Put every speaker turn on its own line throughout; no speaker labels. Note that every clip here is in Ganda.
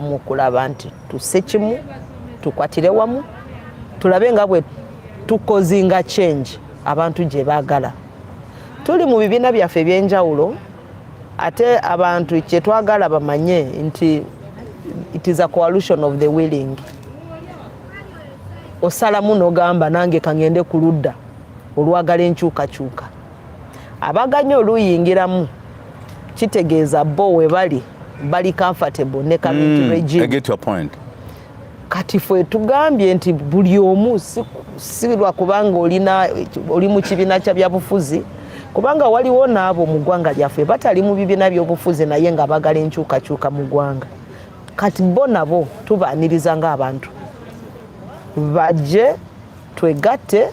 mu kulaba nti tusse kimu tukwatire wamu tulabe nga bwe tukozinga change abantu gye baagala tuli mu bibiina byaffe ebyenjawulo ate abantu kyetwagala bamanye nti it is a coalition of the willing osalamu nogamba nange kangende ku ludda olwagala enkyukakyuka abaganye oluyingiramu kitegeeza bo webali bali comfortable ne community mm, regime. I get your point.
Kati
fwe tugambye nti buli omu si lwa kubanga olina oli mu kibiina kya byabufuzi kubanga waliwo n'abo mu ggwanga lyaffe batali mu bibiina by'obufuzi naye nga bagala enkyukakyuka mu ggwanga kati bo nabo tubaaniriza ng'abantu bajje twegatte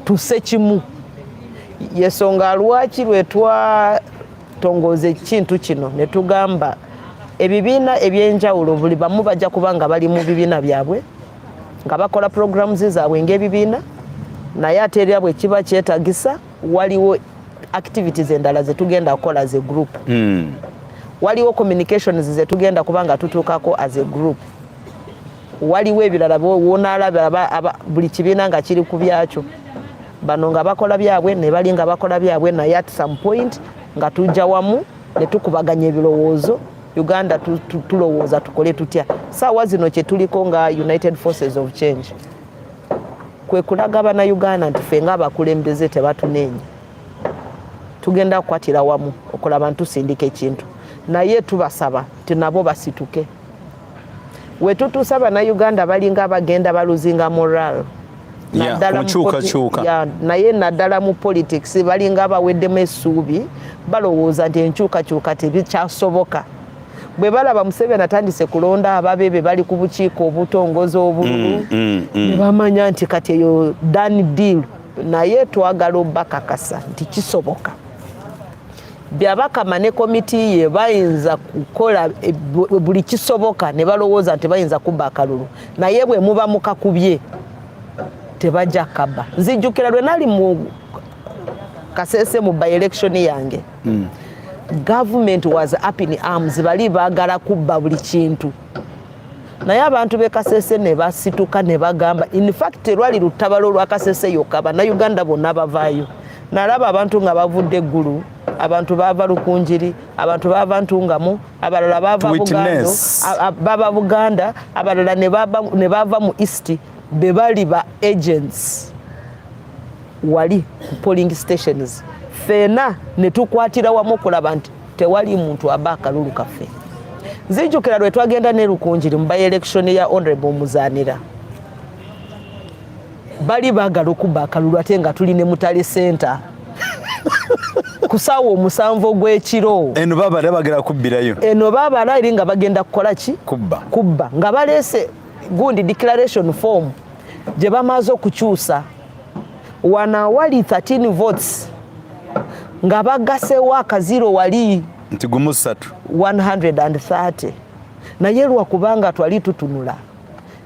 tuse kimu yesonga lwaki lwetwatongooza ekintu kino ne tugamba ebibiina ebyenjawulo buli bamu bajja kuba nga bali mu bibiina byabwe nga bakola programs zaabwe ng'ebibiina naye ate erya bwe kiba kyetagisa waliwo activities endala zetugenda kukola as a group mm. waliwo communications zetugenda kuba nga tutuukako as a group waliwo ebirala wonaalaba buli kibiina nga kiri ku byakyo bano nga bakola byabwe ne bali nga bakola byabwe naye at some point nga tujja wamu ne tukubaganya ebirowoozo uganda tulowooza tukole tutya saawa zino kyetuliko nga united forces of change kwe kulaga banauganda nti fe nga abakulembeze tebatunenya tugenda kukwatira wamu okulaba ntusindika ekintu naye tubasaba nti nabo basituke wetutuusa bannayuganda balinga abagenda baluzinga moral naye naddala mu politics balinga abaweddemu essuubi balowooza nti enkyukakyuka tebikyasoboka bwe balaba museveni atandise kulonda ababe be bali ku bukiiko obutongoza obululu mm, mm, mm. ne bamanya nti kati eyo dan deal naye twagala obakakasa nti kisoboka byabakama ne komiti ye bayinza kukola eh, buli kisoboka ne balowooza nti bayinza kubba akalulu naye bwe muba mukakubye tebajja kaba nzijjukira lwe nali mu kasese mu by election yange mm. government was up in arms bali bagala kubba buli kintu naye abantu be kasese ne basituka ne bagamba in fact lwali lutabalo lwa kasese yokka bannayuganda bonna bavaayo nalaba abantu nga bavudde eggulu abantu baava lukunjiri abantu baava ntungamu abalala baava bugando baba buganda abalala ne baava mu east be bali ba agents wali ku polling stations feena ne tukwatira wamu okulaba nti tewali muntu aba akalulu kaffe nzijukira lwe twagenda ne lukunjiri mu by election ya honorable muzanira bali bagala okuba akalulu ate nga tuli ne mutale center kusaawa omusanvu ogw'ekiro eno babala bagala kubbirayo eno babala eri nga bagenda kukola ki kubba kubba nga baleese gundi declaration form gye bamaze okukyusa wano awali 13 votes nga bagasewo akaziro wali nti gumu satu 130 naye lwakubanga twali tutunula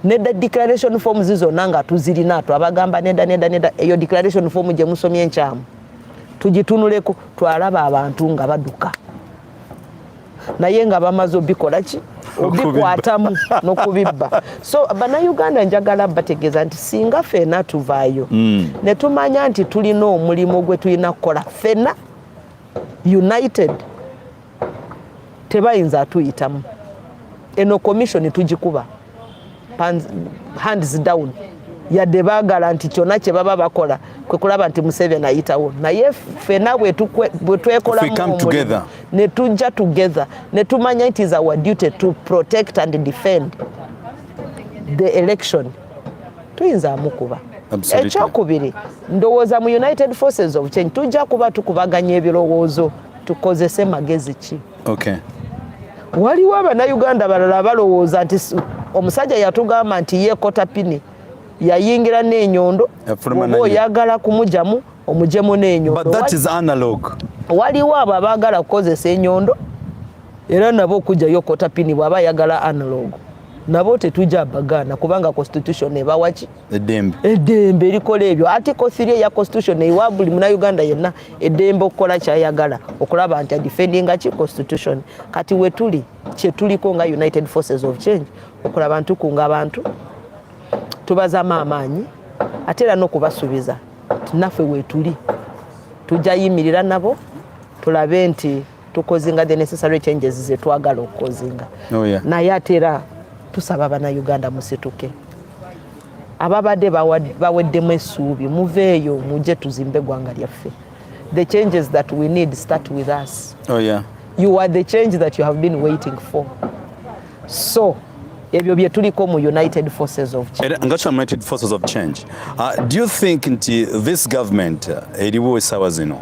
neda declaration form zizona nga tuzirina twabagamba neda neda neda eyo declaration form gyemusomye enkyamu tugitunuleko twalaba abantu nga baduka naye nga bamaze obikola ki obikwatamu nokubibba so banauganda njagala bategeeza nti singa fena tuvaayo mm. netumanya nti tulina omulimu gwe tulina kukola fena united tebayinza atuyitamu eno komishoni tugikuba hands down yadde bagala nti kyona kyebaba bakola kwekulaba nti museveni ayitawo naye fena bwetwekolamuomulimu netujja together netumanya it is our duty to protect and defend the election tuyinza amukuba ekyokubiri ndowooza mu united forces of change tujja kuba tukubaganya ebirowoozo tukozese magezi ki okay. waliwo abanauganda balala abalowooza nti omusajja yatugamba nti ye kotapini yayingira n'enyondo oba oyagala kumujamu omujemu n'enyondo waliwo abo abaagala kukozesa enyondo era nabo okujjayo kotapini bwaba ayagala analog nabo tetujja bagaana kubanga constitution ebawaki eddembe eddembe
erikola ebyo
article 3 eya constitution ewa buli munauganda yenna eddembe okukola kyayagala okulaba nti adefendinga ki constitution kati wetuli kyetuliko nga united forces of change okulaba ntukunga abantu tubazamu amaanyi ate era nokubasuubiza naffe wetuli tujja yimirira nabo tulabe nti tukozinga the necessary changes zetwagala okukozinga oh, yeah. naye ate era tusaba banauganda musituke ababadde baweddemu essuubi muveeyo muje tuzimbe eggwanga lyaffe the changes that we need start with us oh, yeah. you are the change that you have been waiting for so ebyo bye tuliko mu united forces of change. Era, ngacho united forces of
change uh, do you think nti this government uh, eriwo esawa zino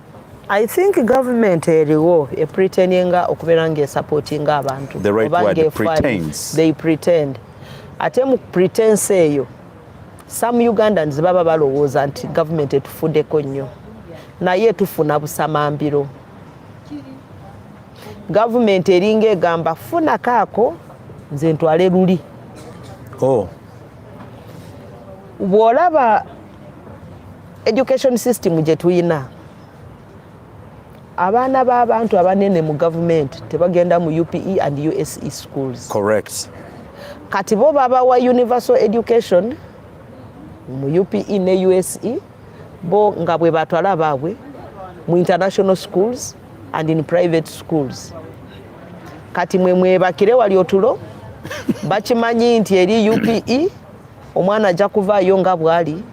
I think government eriwo e pretendinga okubeera nga esupportinga abantu the right word
pretends they pretend
ate mu pretense eyo some Ugandans baba balowooza nti government etufudeko nnyo naye tufuna busamambiro government eringa egamba funa kaako nze ntwale luli oh. bwolaba education system gye tulina abaana b'abantu abanene mu gavumenti tebagenda mu UPE and USE schools. Correct.
Kati bo
babawa universal education mu UPE ne USE bo nga bwe batwala baabwe mu international schools and in private schools. Kati mwe mwebakire wali otulo bakimanyi nti eri UPE omwana ajja kuvaayo nga bwali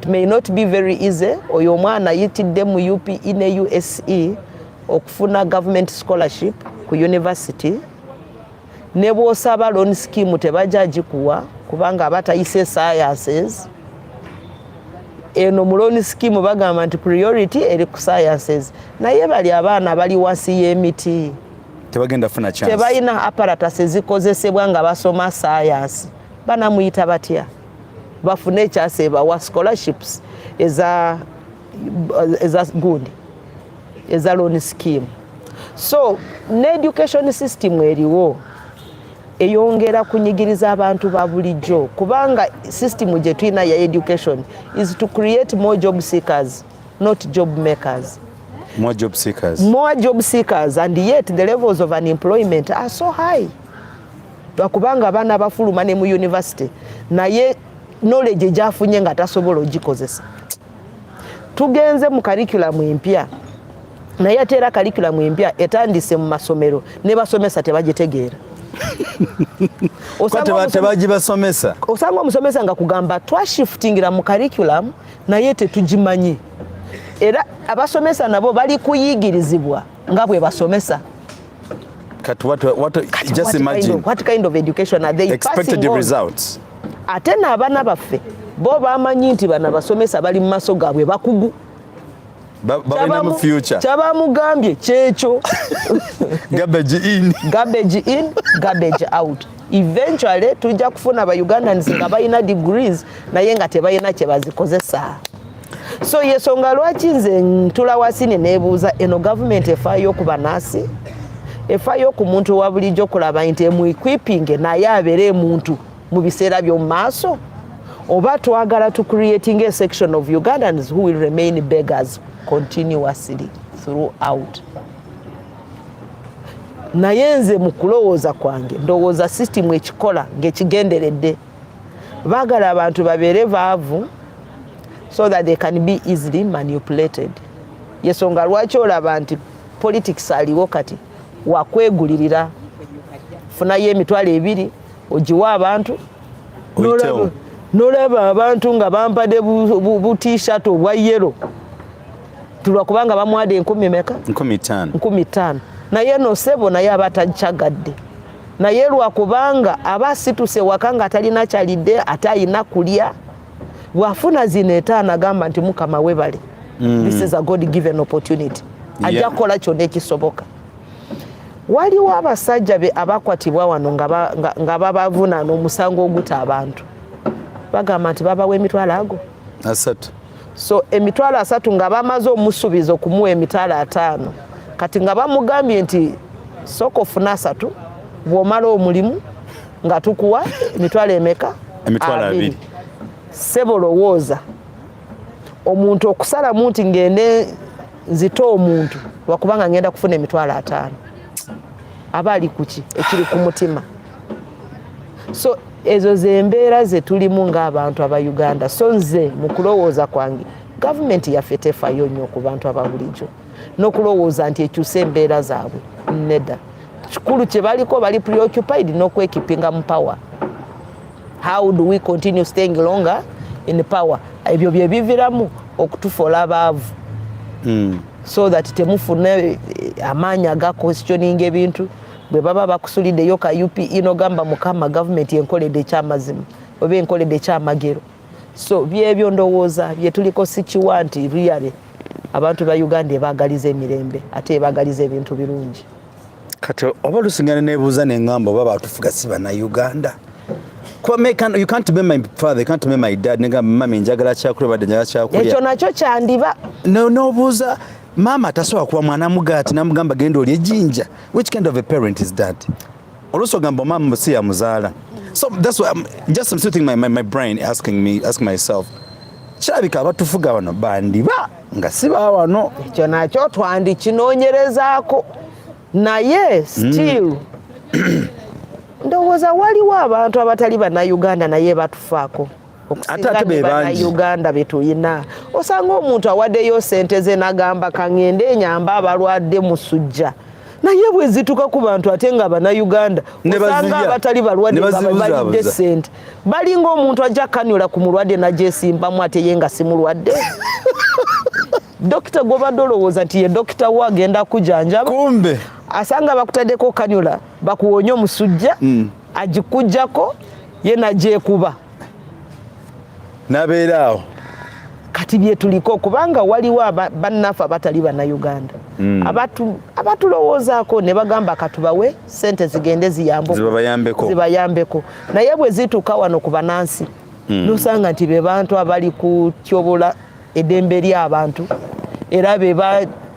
it may not be very easy oyo omwana ayitidde mu upe ne use okufuna government scholarship ku university ne bwosaba loan scheme tebajja agikuwa kubanga aba tayise sciences eno mu loan scheme bagamba nti priority eri ku sciences naye bali abaana bali wansi y'emiti
tebalina apparatus
ezikozesebwa nga basoma science banamuyita batya bafune ekyasa ebawa scholarships eza eza gundi eza loan scheme so ne education system eriwo eyongera kunyigiriza abantu ba bulijjo kubanga system gye tulina ya education is to create more job seekers not job makers more job
seekers more job seekers
and yet the levels of unemployment are so high lwakubanga abaana bafuluma ne mu yunivasite naye knowledge gyafunye nga tasobola ogikozesa tugenze mu karikulamu empya naye ate era karikulamu empya etandise mu masomero ne basomesa tebagitegeera
tebagibasomesa osanga omusomesa
nga kugamba twashifutingira mu karikulamu naye tetugimanyi era abasomesa nabo bali kuyigirizibwa nga bwe basomesa Kat, what, what, Kat,
just what imagine. Kind of, what kind of education
are they expected the results?
Ate na abana
baffe bo bamanyi nti bana basomesa bali mu maso gabwe bakugu
kyabamugambye
kyekyo
garbage in garbage in
garbage out eventually tujja kufuna ba ugandans nga balina degrees naye nga tebalina kyebazikozesa so yesonga lwaki nze ntula wasi ne nebuuza eno gavumenti efaayo okuba nasi efaayo ku muntu wa bulijjo kulaba nti emuiquipinge naye abeere emuntu mu biseera by'omu maaso oba twagala to creating a section of ugandans who will remain beggars continuously throughout naye nze mu kulowooza kwange ndowooza system ekikola ng'ekigenderedde baagala abantu babeere baavu so that they can be easily manipulated yesonga lwaki olaba nti politics aliwo kati wakwegulirira funayo emitwalo ebiri ogiwa abantu nolaba abantu nga bampade butishat obwa yero tulwakubanga bamwada enkumi meka nkumi tano naye no sebo naye aba tacagadde naye lwakubanga aba asituse waka nga atalina kyalidde ate ayina kulya bwafuna zino etaano agamba nti mukama webale mm. this is a god given opportunity ajja kukola yeah. kyonna ekisoboka waliwo abasajja be abakwatibwa wano nga babavunaana omusango oguta abantu bagamba nti babawa emitwalo ago asatu
so
emitwalo asatu nga bamaze omusubiza okumuwa emitwalo ataano kati nga bamugambye nti sooka ofuna asatu bwomala omulimu nga tukuwa emitwalo emeka emitwalo abiri
sebo
lowooza omuntu okusalamu nti ngende nzite omuntu wakubanga ngenda kufuna emitwalo ataano aba ali kuki ekiri ku mutima so ezo zembeera zetulimu ngaabantu aba uganda so nze mukulowooza kwange gavumenti yaffe tefayo nnyo ku bantu ababulijjo nokulowooza nti ekyusa embeera zaabwe neda kikulu kyebaliko bali preoccupied nokwekipinga mu power how do we continue staying longer in power ebyo byebiviramu okutufola abaavu mm. so that temufuna eh, amaanyi agakwestioninga ebintu bwe baba bakusulideyo ka UPE nogamba mukama gavumenti enkoledde ekyamazima oba enkoledde ekyamagero so byebyo ndowooza byetuliko sikiwa nti riyale abantu ba uganda ebagaliza emirembe ate ebagaliza ebintu birungi kati
oba lusingana nebuuza nengamba oba batufuga si banauganda you can't be my father, you can't be my dad. Nigga, mami njagala chakula bade njagala chakula. Echo nacho chandiba.
No no buza.
Mama tasowa kuwa mwana mugati na mugamba gendo lye jinja. Which kind of a parent is that? Olusi ogamba omama si yamuzaala. So that's why I'm just I'm sitting my, my, my brain asking me ask myself. Kirabika abatufuga bano bandiba nga si ba wano. Ekyo nakyo
twandikinoonyerezaako naye hmm. still ndowooza waliwo abantu abatali bannayuganda naye batufaako. okusinganebanayuganda betuyina osanga omuntu awadeyo sente ze nagamba kangende enyamba abalwadde musujja naye bwezituka ku bantu ate nga banauganda osanga abatali balwaddebalidde sente balinga omuntu ajja kanula ku mulwadde najesimbamu ate ye nga simulwadde dokita gwobadde olowooza nti ye dokita wo agenda kujanjaba
asanga bakutadeko
kanula bakuwonye omusujja mm. agikujjako ye nagyekuba
nabeera awo kati
byetuliko kubanga waliwo bannaffe abatali bannayuganda hmm. abatulowoozaako ne bagamba katubawe sente zigende zibayambeko naye bwe zituuka wano ku banansi hmm. nosanga nti be bantu abali kutyobola edembe lyabantu era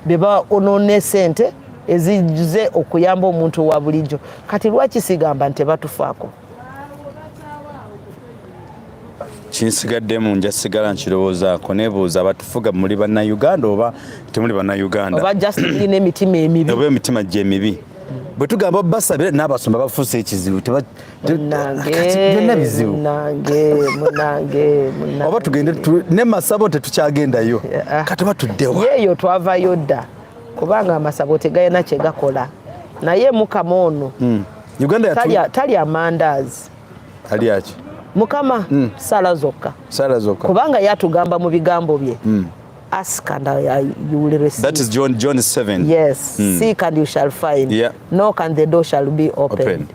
beba onone sente ezize okuyamba omuntu wa bulijjo kati lwaki sigamba nti batufaako
kinsigaddemu nja sigala nkirowoozaako nebuuza batufuga muli bannayuganda oba temuli bannayuganda oba just ina
emitima emibi oba emitima gyemibi
bwe tugamba basabire n'abasumba bafuuse ekizibu byonna bizibu
oba tugende
ne masabo tetukyagendayo katuba tuddewa yeeyo twavayo
dda kubanga amasabo tegalina kyegakola naye mukama ono hmm.
talya
amandaazi alyaki
mukama
hmm. sala zokka sala zokka kubanga yatugamba mu bigambo bye hmm. ask and I, you will receive. That is John, John 7.
Yes. Mm. Seek
and you shall find. Yeah. Knock and the
door shall
be opened. opened.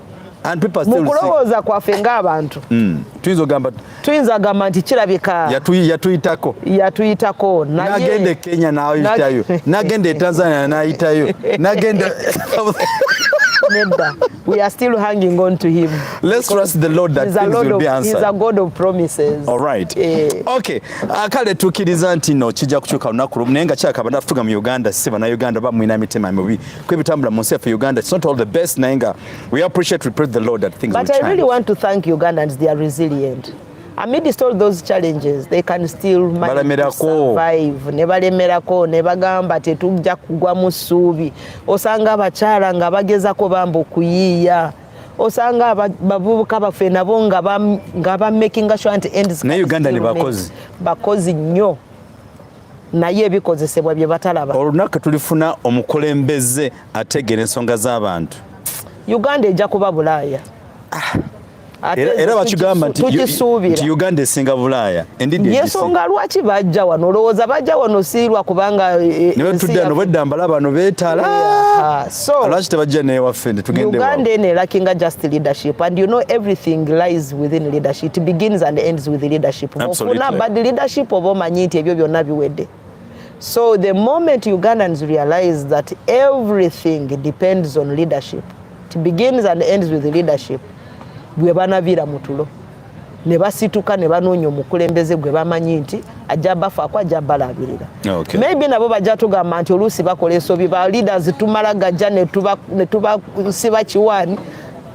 mu kulowooza kwaffe
ng'abantu hmm. tuyinza ogamba nti kirabika yatuyitako yatuyitako nagenda e kenya
nayitayo nagenda e tanzania nayitayo nagenda
nedda we are still hanging on to him let's trust the lord
that things will be answered he's a god of promises
all right eh.
okay ah, kale tukiriza nti no kijja kukyuka lunaku lumu naye nga kyakaba nafuga mu uganda si bana uganda bamwina mitima mibi kwebitambula mu nsi yaffe Uganda it's not all the best naye nga we appreciate we praise the Lord that things but I really want to thank
Ugandans they are resilient amidst all those challenges they can still survive ne balemerako ne bagamba tetujja kugwa mu ssuubi osanga abakyala nga bagezako bamba okuyiiya osanga abavubuka baffe nabo nga bamakinga sure nti ends ne Uganda ne bakozi
bakozi
nnyo naye ebikozesebwa bye batalaba. Olunaku tulifuna
omukulembeze ategeera ensonga
z'abantu, Uganda
ejja kuba
Bulaaya.
Ah. Era bakigamba nti Uganda esinga Bulaaya. Yensonga lwaki
bajja wano, olowooza bajja wano siirwa kubanga. Eh, eh, Nebetudda no
bwedda mbala bano beetala. So, lwaki tebajja newaffe uganda eno elakinga
just leadership and you know everything lies within leadership it begins and ends with leadership ofuna bad
leadership oba
omanyi nti ebyo byonna biwedde so the moment ugandans realize that everything depends on leadership it begins and ends with leadership bwe banavira mutulo ne basituka ne banoonya omukulembeze gwe bamanyi nti ajja bafaako ajja balabirira okay. maybe nabo bajja tugamba nti oluusi bakola ensobi ba leaders tumala gajja ne tubasiba kiwaani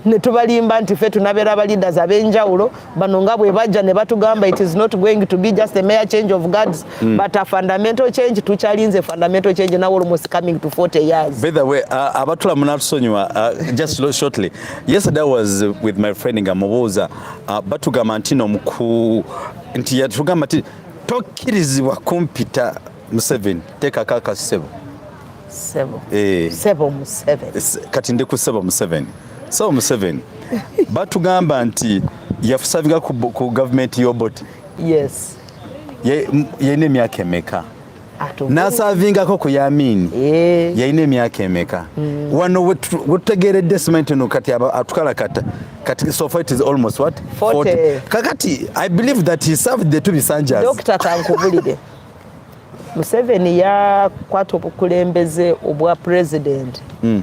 ne tubalimba nti ffe tunabeera ba leaders ab'enjawulo bano nga bwe bajja ne batugamba it is not going to be just a mere change of guards mm. but a fundamental change tukyalinze fundamental change now almost coming to 40 years by the way uh, abatula
munatusonyiwa uh, just shortly Yesterday I was with my friend nga mubuuza uh, batugamba nti no mku nti yatugamba nti tokkirizibwa kumpita Museveni teekako akasebo sebo eh. sebo Museveni kati ndi ku sebo Museveni sebo Museveni batugamba nti yafusavinga ku, ku gavumenti y'Obote yes yalina emyaka emeka n'asaavingako ku yamiini eh. yalina emyaka emeka mm. wano wetutegeeredde simanyi tino kati atukalakata kati so far it is almost what 40 kakati i believe that he served the two bisanjas dr kankubulire
museveni yakwata obukulembeze obwa president mm.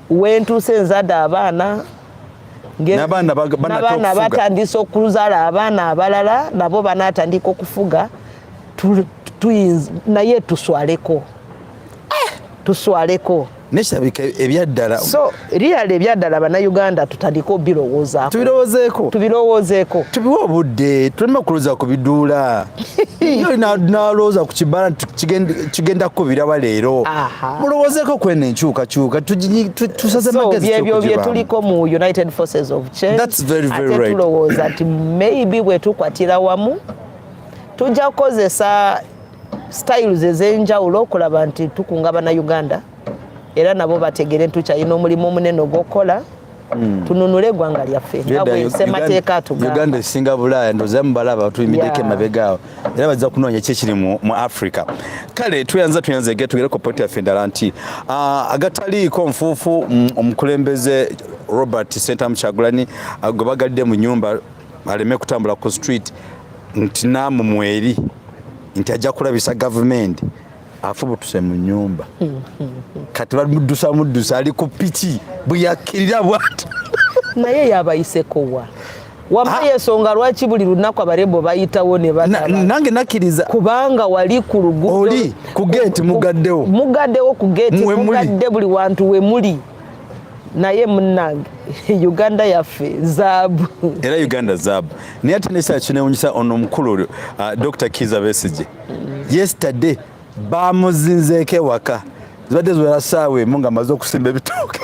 wentuuse nzade abaana nabaana batandise okuzala abaana abalala nabo banatandika okufuga naye tuswaleko eh! tuswaleko nekirabika
ebyaddala so liyali
ebyaddala bannayuganda tutandike obirowoozaako tubirowozeeko tubirowozeeko tubiwe obudde
tuleme okuluza ku biduula yo nalowooza ku kibala nti kigenda kukubiraba leero mulowoozeko kwena enkyukakyuka tusaze magezibyo byetuliko
mu united forces of change ate
tulowooza nti
maybe bwetukwatira wamu tujja kukozesa styles ez'enjawulo okulaba nti tukunga bana uganda era nabo bategere nti tukyalina omulimu omunene ogw'okukola Mm. tununule egwanga lyaffe nga bwensemateeka atugamba esinga bulaaya
ndoza mubalaba tuyimiddeko emabega awo era bajja kunoonya ki ekiri mu africa kale tuyanza tuyanza ege tugere ku poti yaffe endala nti ah, agataliiko nfuufu mm, omukulembeze robert sentamu kyagulani ah, gwe bagadde mu nyumba aleme kutambula ku street nti naamumweri nti ajja kulabisa gavumenti afubutuse mu nyumba kati bamuddusa muddusa ali ku piki bweyakirira bwati naye
yabayisekowa wamma yensonga lwaki buli lunaku abarembo bayitawo nange nakiriza
kubanga wali
ku luguli ku geti
mugaddewo mugaddewo ku geti
mugadde buli wantu wemuli naye munange uganda yaffe zaabu era uganda
zaabu naye ate nesaa kinewunyisa ono omukulu uh, dr kiza besige yesterday bamuzinzeeko ewaka zibadde ziwera saawa emu nga maze okusimba ebitooke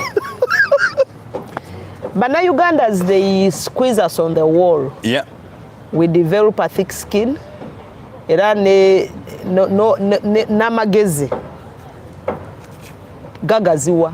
banaugandans they squeeze us on the wall yeah.
we develop
a thick skin era n'amagezi gagaziwa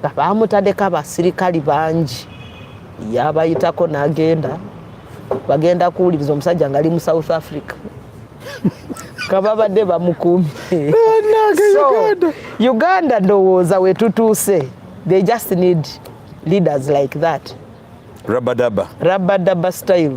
nga bamutadeko abasirikali bangi yabayitako nagenda bagenda kuwuliriza omusajja nga ali mu south africa kababadde bamukumye uganda ndowooza wetutuuse they just need leaders like that rabadaba rabadaba style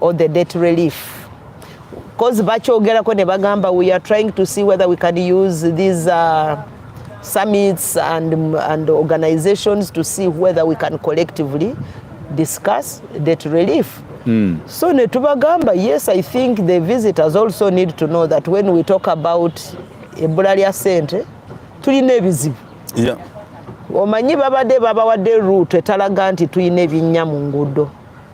or the debt relief cause bakyogerako ne bagamba we are trying to see whether we can use these uh, summits and, and organizations to see whether we can collectively discuss debt relief mm. so netubagamba yes i think the visitors also need to know that when we talk about ebbula lya sente tulina ebizibu yeah.
omanyi
babadde babawadde route etalaga nti tulina ebinnya mu nguudo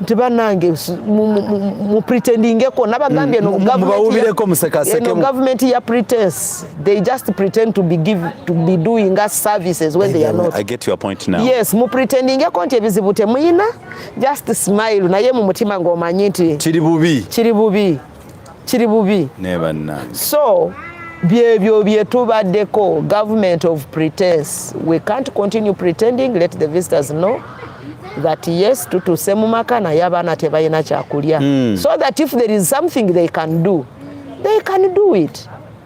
nti banange mupretendingeko nabagambye mm, no government ya pretense they just pretend to be, give, to be doing us services when they are not. I get your point now. Yes,
mupretendingeko
nti ebizibu temuyina just smile naye mu mutima ng'omanyi nti kiri bubi kiri bubi kiri bubi
so
byebyo byetubaddeko government of pretense we can't continue pretending let the visitors know that yes tutuuse mu maka naye abaana tebalina kyakulya mm. so that if there is something they can do they can do it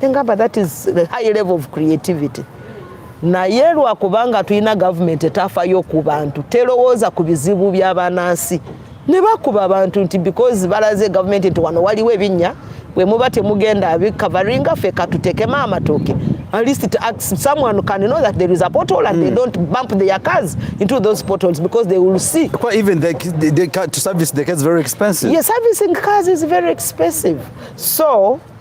engamba that is the high level of creativity naye lwakubanga tulina gavumenti etafayo ku bantu terowooza ku bizibu byabanansi ne bakuba abantu nti because balaze gavumenti nti wano waliwo ebinnya bwe muba temugenda abikavaringa ffe katutekemu amatooke at least it asks someone can know that there is a portal and mm. they hmm. don't bump their cars into those portals because they will see. Quite even they, they,
they, to service the cars is very expensive. Yes, servicing cars
is very expensive. So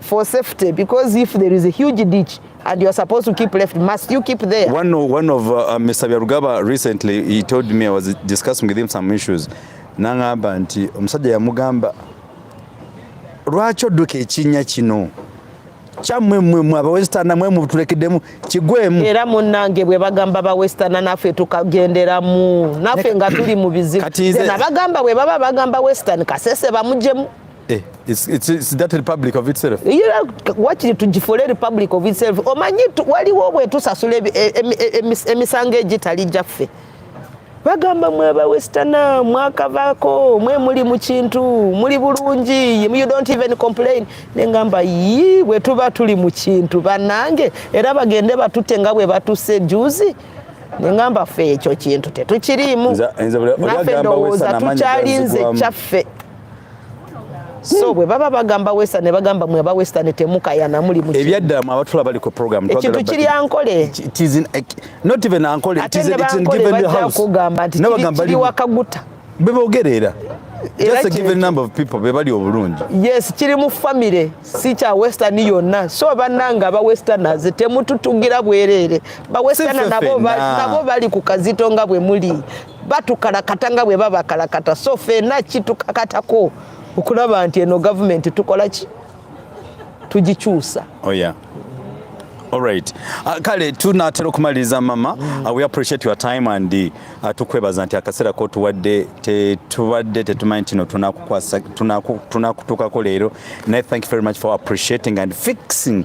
for safety
because if there is a huge ditch and you are supposed to keep left must you keep there one of, one of uh,
uh Mr. Byarugaba recently he told me I was discussing with him some issues nangamba nti omusajja yamugamba lwaki odduka ekinnya kino kyammwe mmwe mwe abawesitana mwe mutulekedemu kigwemu era munnange bwe
bagamba bawesitana naffe tukagenderamu naffe nga tuli mu bizibu abagamba bwe baba bagamba wesitani kasese bamujemu
Eh, it's, it's, it's that republic of itself. You know, what you to
for a republic of itself. Omanyi waliwo bwe tusasula e, e, e, emisango egitali gyaffe. Bagamba mwe ba westerner mwakavako mwe muli mu kintu muli bulungi you don't even complain ne ngamba yi bwe tuba tuli mu kintu banange era bagende batute nga bwe batuse juzi nengamba fe ekyo kintu tetukiriimu nafe ndowooza tukyalinze kyaffe so bwe baba bagamba western ne bagamba mwe aba western temukayana muli mu ebyaddala mu abatula bali ku
program ekintu kiri ankole
eh,
not even ankole it is in given the house kugamba nti kiri
wakaguta bebogerera
just a given number of people be bali obulungi yes kiri mu
family si kya western yonna so bananga aba westerners temututugira bwerere ba western nabo nabo bali ku kazito nga bwe muli batukalakata nga bwe babakalakata so fena kitukakatako okulaba nti eno gavumenti tukola ki tugikyusa oh
yeah. All right. Uh, kale tunatera okumaliriza mama mm. uh, we appreciate your time and uh, tukwebaza nti akaseera kotuwadde tetubadde tetumanyi kino tunakutuukako leero naye thank you very much for appreciating and fixing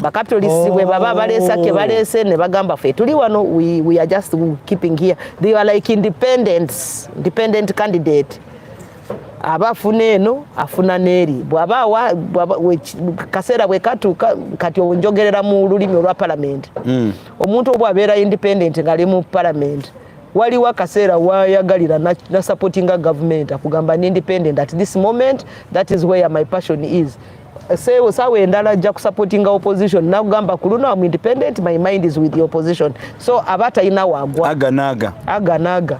bakatolisi bwe baba baleesa ke baleese ne bagamba fe tuli wano we, we are just keeping here they are like independents independent candidate aba afuna eno afuna neeri bwaba kaseera bwekatuuka kati onjogerera mu lulimi olwa palamenti mm. omuntu obw abeera independent ngaali mu palamenti waliwo akaseera wayagalira nasupportinga government akugamba ni independent at this moment that is where my passion is sewo sawa endala ajja kusupportinga opposition nakugamba ku luno am independent my mind is with the opposition so aba talina wagwa aganaga aganaga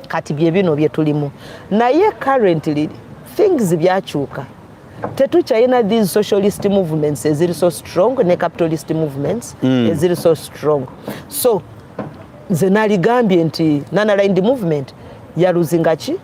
kati byebino byetulimu naye currently things byakyuka tetukyalina these socialist movements eziri so strong ne capitalist movements mm. eziri so strong so nze naligambye nti nanalindi movement yaluzingaki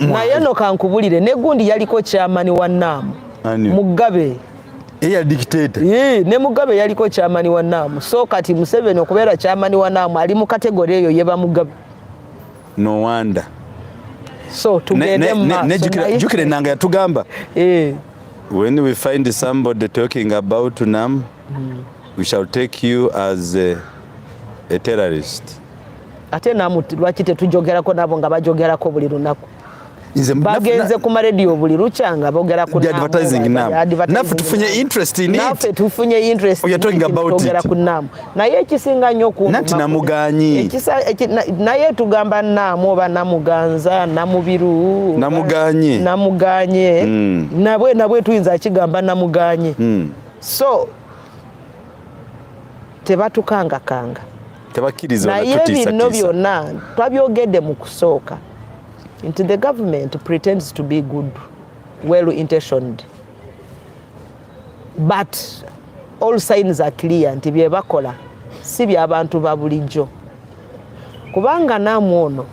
naye no
kankubulire ne gundi yaliko kyamani wa naamu mugabe eya
dictator ee ne mugabe
yaliko kyamani wa naamu so kati museveni okubeera kyamani wa naamu ali mu kategori eyo yeba mugabe no
wonder so
tugende mu
maaso jukire nanga yatugamba ee when we find somebody talking about nam mm. we shall take you as a, a
terrorist ate namu lwaki
tetujogerako
nabo nga bajogerako buli lunaku bagenze ku marediyo buli lukya nga bogera kunaffe
tufunye interestnaffe tufunye
interestogera
ku naamu
naye ekisinga nnyo kunati namuganyi
naye
tugamba naamu oba namuganza namubiru namuganye namuganye hmm. nabwe nabwe tuyinza akigamba namuganye hmm. so tebatukangakanga
tebakiriza naye bino
byonna twabyogedde mu kusooka nti the government pretends to be good well intentioned but all signs are clear nti byebakola si byabantu ba bulijjo kubanga namwe ono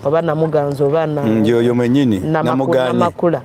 oba namuganza oba namakula
mm,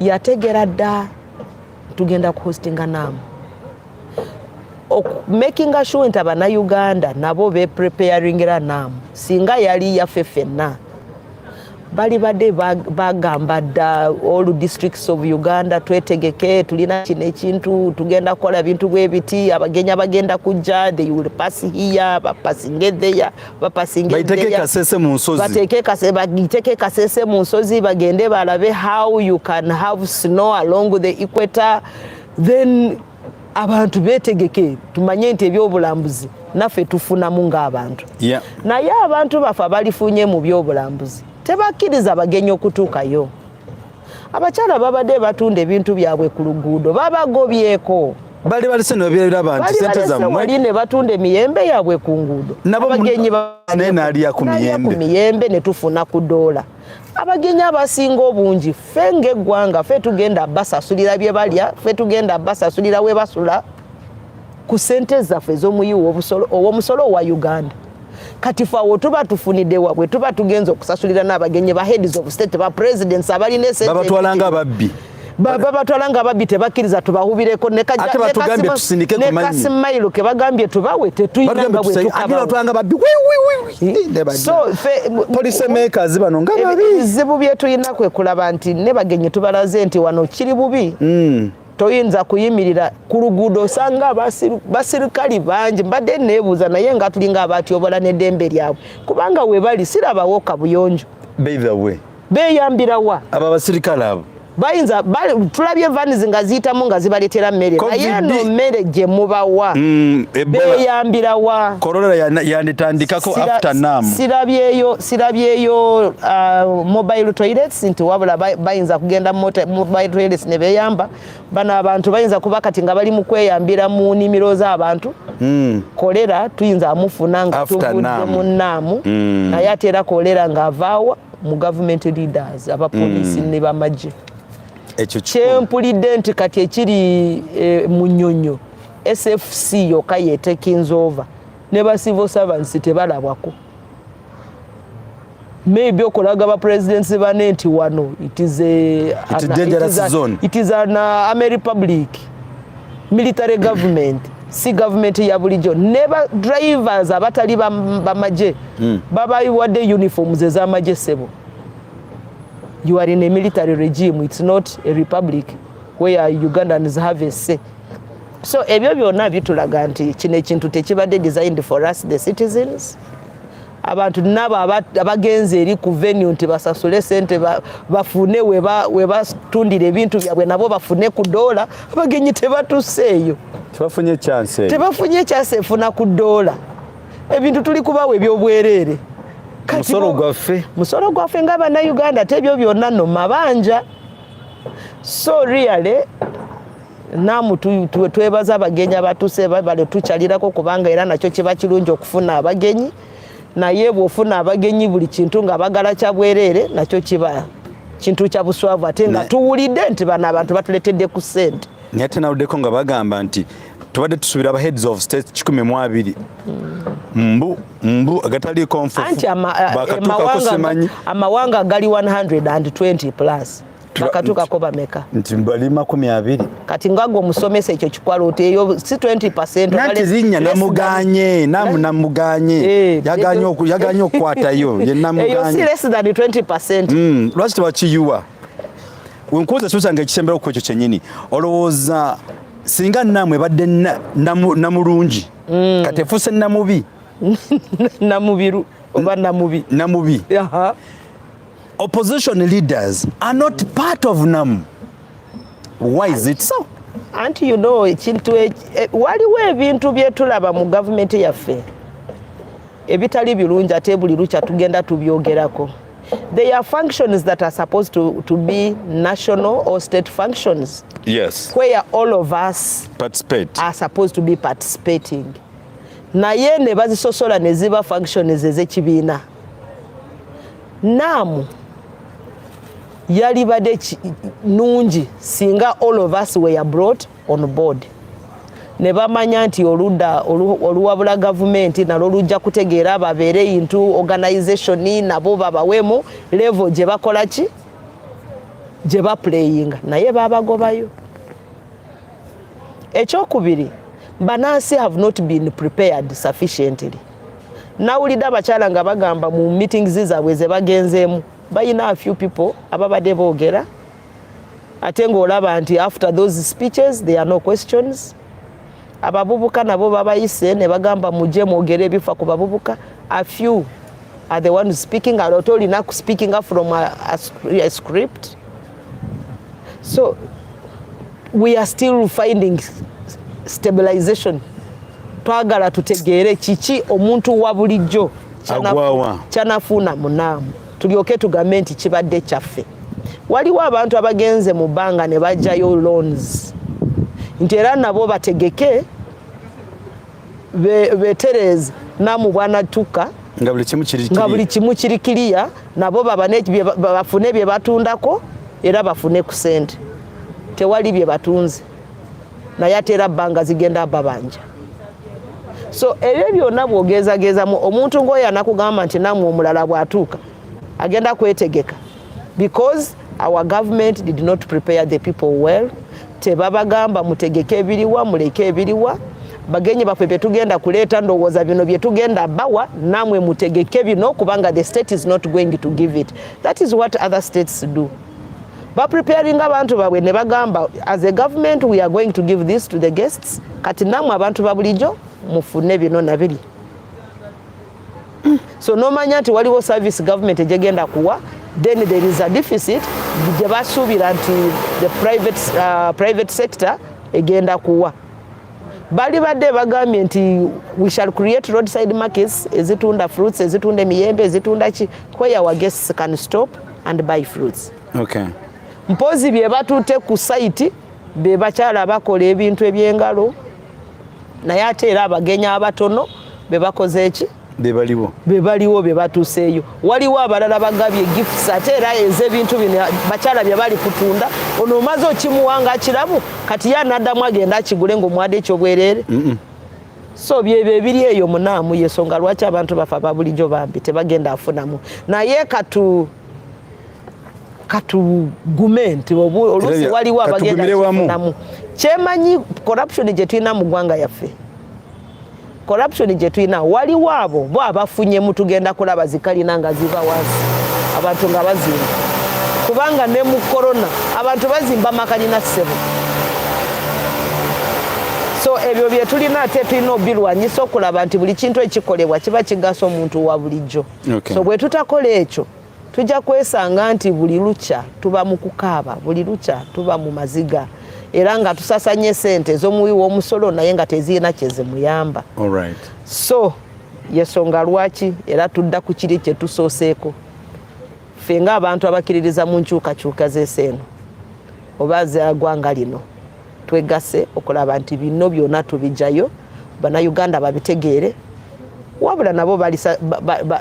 yategera dda tugenda ku hostinga naamu makinga sure nti abanauganda nabo bepreparingira naamu singa yali yaffe fenna bali badde bagamba dda all districts of uganda twetegeke tulina kino ekintu tugenda kukola bintu bwebiti abagenyi abagenda kujja they will pass here bapasinge there bapasinga baiteke
kasese mu nsozi bateke kasese bagiteke
kasese mu nsozi bagende balabe how you can have snow along the equator then abantu betegeke tumanye nti ebyobulambuzi naffe tufunamu ng'abantu yeah. naye abantu bafa balifunye mu byobulambuzi tebakkiriza bagenyi okutuukayo abakyala babadde batunda ebintu byabwe ku luguudo babagobyeko bali balese
nebabyeraba nti sente zammwe ne batunda emiyembe
yabwe ku nguudo abagenyi naye naalya ku
miyembe ne
tufuna ku doola abagenyi abasinga obungi ffe ng'eggwanga ffe tugenda basasulira bye balya ffe tugenda basasulira we basula ku sente zaffe ez'omuyi ow'omusolo owa uganda kati fe awo tuba tufunidde wabwe tuba tugenza okusasulira n'abagenyi ba heads of state ba presidents abalina esentebabatwala nga
babbi babatwala nga
babbi tebakkiriza tubahubireko nekasimailo kebagambye tubawe tetuyinanga bwetukabaebizibu
byetulina
kwekulaba nti ne bagenyi tubalaze nti wano kiri bubi mm. toyinza kuyimirira ku luguudo osanga basirikali bangi mbadde neebuuza naye nga tulinga abatyobola n'eddembe lyabwe kubanga webali sirabawo kabuyonjo beeyambira wa abo abasirikale abo
bayinza
tulabye vans nga ziyitamu nga zibaletera mmere naye no mmere gye mubawa mm, beyambira wa
sirabyeyo
uh, mobile toilets nti wabula bayinza kugenda motreles ne beyamba bano abantu bayinza kuba kati nga bali mu kweyambira mu nimiro z'abantu hmm. kolera tuyinza amufuna nga tuvudde mu naamu hmm. naye ate era kolera ng'avaawa mu government leaders abapoliisi hmm. ne bamagye kyempulidde nti kati ekiri e, mu nyonyo sfc yokka yetekinzova ne ba civil servants tebalabwako maybe okulaga ba presidents bane nti wano it is a it is dangerous an, zone it is an uh, army republic military government si government ya bulijo ne ba drivers abatali ba, ba maje mm. baba iwade uniforms za maje sebo you are in a military regime it's not a republic where ugandans have a say so ebyo byona bitulaga nti kino ekintu tekibadde designed for us the citizens abantu nabo abagenze eri ku venue nti basasule sente bafune webatundira ebintu byabwe nabo bafune ku doola abagenyi tebatuseeyo tebafunye
chance tebafunye chance efuna ku
doola ebintu tuli kubawa ebyobwereere musolo gwaffe musolo gwaffe nga bannayuganda tebyo byonna no mabanja so really namu twebaza abagenyi abatuse babale tukyalirako kubanga era nakyo kiba kirungi okufuna abagenyi naye bwofuna abagenyi buli kintu nga bagala kyabwerere nakyo kiba kintu kya buswavu ate nga tuwulidde nti bano abantu batuletedde ku sente naye ate nawuddeko nga
bagamba nti tubadde tusubira abaheads of state kikumi mu abiri mbu mbu agataliiko nfufu
bakatuuka
kusimanyi
amawanga gali 120 plus bakatuukako bameka nti bali makumi
abiri kati ngagwe
omusomesa ekyo kikwaloota eyo si 20nanti linnya
namuganye namu namuganye eh, yaganye okukwatayo yenamuganyeeyo si less
than 20 mm, lwaki tebakiyuwa
wenkuuza susa nga ekisembera okukwo ekyo kyenyini olowooza singa namwe badde namulungi mm. kati efuuse namubi
namubiru oba namubi namubi
Opposition leaders are not part of NAM. Why is it so? Anti you know
ekintu e, e, waliwo ebintu byetulaba mu government yaffe ebitali birungi ate buli lukya tugenda tubyogerako. They are functions that are supposed to, to be national or state functions. Yes. Where
all of
us participate. are supposed to be participating. Naye ne bazisosola ne ziba functions ezekibiina. naamu yalibadde nungi singa all of us were brought on board ne bamanya nti oludda oluwabula gavumenti nalwo lujja kutegeera babeere into organization nabo babawemu level gye bakola ki gye bapuleyinga naye babagobayo ekyokubiri banansi have not been prepared sufficiently nawulidde abakyala nga bagamba mu meetings zaabwe zebagenzeemu balina a few people ababadde boogera ate ngaolaba nti after those speeches there are no questions abavubuka nabo babayise ne bagamba muje mwogere ebifa ku bavubuka a few are the ones speaking ate olina speakinga from a, a, a script so we are still finding stabilization twagala tutegeere kiki omuntu wa bulijjo kyanafuuna munaamu tulyoke tugambe nti kibadde kyaffe waliwo abantu abagenze mu bbanga ne bajjayo loans nti era nabo bategeke betereeze namu bwanatuka
nga buli kimu kiri kiriya
nabo bafune bye batundako era bafune ku sente tewali bye batunze naye ate era bbanga zigenda babanja so ebyo byonna bwogezagezamu omuntu ng'oyo anakugamba nti namwe omulala bw'atuuka agenda kwetegeka because our government did not prepare the people well tebabagamba mutegeke ebiriwa muleke ebiriwa bagenyi baffe byetugenda kuleeta ndowooza bino byetugenda bawa namwe mutegeke bino kubanga the state is not going to give it that is what other states do bapreparing abantu babwe ne bagamba as a government we are going to give this to the guests kati namwe abantu babulijo mufune bino nabiri so nomanya nti waliwo service government egyegenda kuwa then there is a deficit gye basuubira nti the private, uh, private sector egenda kuwa bali badde bagambye nti we shall create roadside markets ezitunda fruits ezitunda emiyembe ezitunda ki where our guests can stop and buy fruits okay.
mpozi bye
batutte ku site be bakyala bakola ebintu ebyengalo naye ate era abagenyi abatono bebakoze eki bebaliwo bebaliwo bebatuseeyo waliwo abalala bagabye gifts ate era eze ebintu bino bakyala bye bali kutunda ono omaze okimuwa nga akirabu kati ye anaddamu agenda akigule ngaomwade ekyobwereere mm -mm. so byebyo ebiri eyo munaamu yesonga lwaki abantu bafa babulijo bambi tebagenda afunamu naye katu katugume nti oluusi waliwo abagenda kufunamu kyemanyi corruption gyetulina mu ggwanga yaffe corruption gyetulina waliwo abo bo abafunye mutugenda kulaba zikalina nga ziva wansi abantu nga bazimba kubanga ne mu korona abantu bazimba makalina ssebo so ebyo byetulina ate tulina obirwanyisa okulaba nti buli kintu ekikolebwa kiba kigasa omuntu wa bulijjo so bwetutakola ekyo tujja kwesanga nti buli lukya tuba mu kukaaba buli lukya tuba mu maziga era nga tusasanya esente ez'omuwi w'omusolo naye nga tezirina kyezimuyamba so yesonga lwaki era tudda ku kiri kyetusooseeko ffe ng'abantu abakiririza mu nkyukakyuka z'eseeno oba zagwanga lino twegase okulaba nti bino byona tubijayo banauganda babitegeere wabula nabo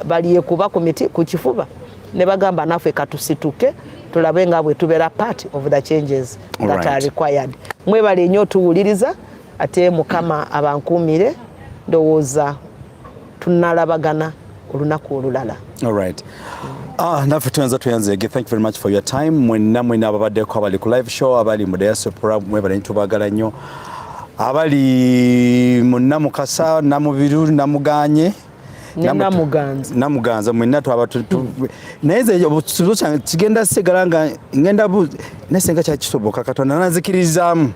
balyekuba ku miti ku kifuba ne bagamba naffe katusituke tulabe nga bwe tubeera part of the changes that are required mwebale nnyo tuwuliriza ate mukama abankuumire ndowooza tunalabagana olunaku olulala alright
Ah, naffe tuyanza tuyanzege thank you very much for your time mwenna mwenna ababaddeko abali ku live show abali mu diaspora mwebale ntubagala nnyo abali mu namukasa namubiru namuganye namuganza mwena twaba naye nze obusuzo kyange kigenda sigala nga ngenda naye senga kyakisoboka katonda nanzikiririzaamu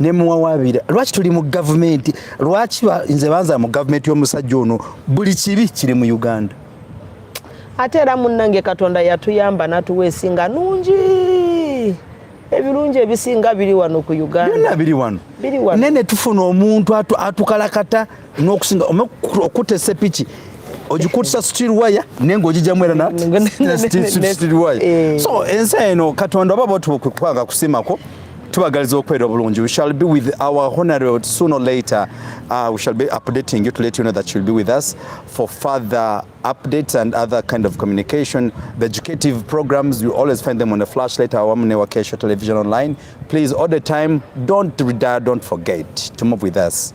ne muwawabira lwaki tuli mu gavumenti lwaki nze banza mu gavumenti y'omusajja ono buli kibi kiri mu uganda
ate era munnange katonda yatuyamba natuwa esinga nungi ebirungi ebisinga biri wano ku uganda biri wano naye
netufuna omuntu atukalakata n'okusinga okutta sepiki ogikutisa steel wire naye ng'ogijamu era na steel wire eh. so ensi eno katonda oba batukwanga kusimako tubagaliza okubeera obulungi we shall be with our honorable soon or later uh, we shall be updating you to let you know that you'll be with us for further updates and other kind of communication the educative programs you always find them on the flashlight awamune wa kesho television online please all the time don't retire don't forget to move with us